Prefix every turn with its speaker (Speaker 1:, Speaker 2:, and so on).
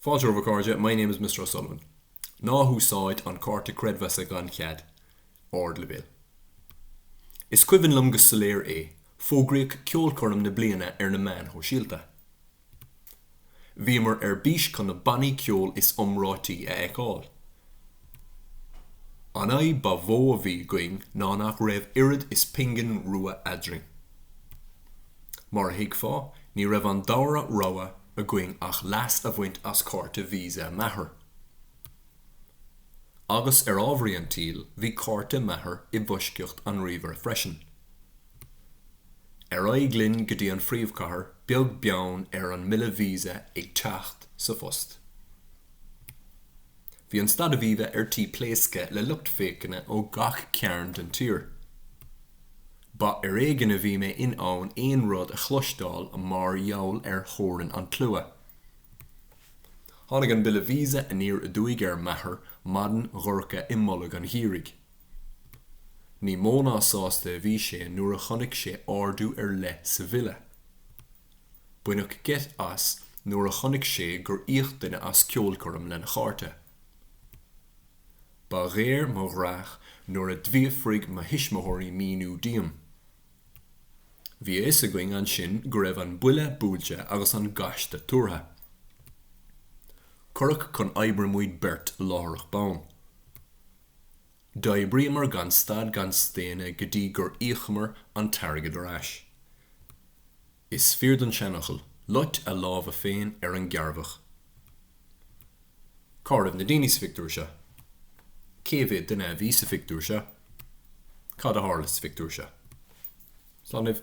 Speaker 1: Fáilte romhaibh, a chairde, My name is Mister O'Sullivan. Ná húsáid an cárta creidmheasa gan chead. Ardleibhéal. Is cuimhin liom go soiléir é, fógraíodh ceolchoirm na bliana ar na meáin shóisialta. Bhíomar ar bís chun na bannaí ceoil is iomráití a fheiceáil. An fhadhb ba mhó a bhí againn ná nach raibh oiread is pingin rua eadrainn. Mar a thuigfeá, ní raibh an dara rogha againn ach leas a bhaint as cárta visa m'athar. Agus, ar ámharaí an tsaoil, bhí cárta m'athar i bhfoisceacht an ríomhaire freisin. Ar aghaidh linn go dtí an phríomhchathair, beag beann ar an mbille visa ag teacht sa phost. Bhí an Staid Aviva ar tí pléascadh le lucht féachana ó gach cearn den tír. Ba ar éigean a bhí mé in ann aon rud a chloisteáil mar gheall ar thorann an tslua. Tháinig an bille visa aniar aduaidh ar m'athair maidin dhorcha i mbolg an gheimhridh. Ní mó ná sásta a bhí sé nuair a chonaic sé ardú ar leith sa bhille. Baineadh geit as nuair a chonaic sé gur íoc duine as ceolchoirm lena chárta. Ba ghéar mo dhreach nuair a d'fhiafraigh mo thuismitheoirí míniú díom. Bhí a fhios againn ansin go raibh an buille buailte agus an gaiste tuartha. Cuireadh chun oibre muid beirt láithreach bonn. D'oibríomar gan stad gan staonadh go dtí gur íocamar an t-airgead ar ais. Is fíor don seanfhocal, Lucht a lámha féin ar an gcearrbhach. Cá raibh na daoine sa phictiúr seo? Cé mhéad duine a bhí sa phictiúr seo? Cad a tharla sa phictiúr seo? Slán libh!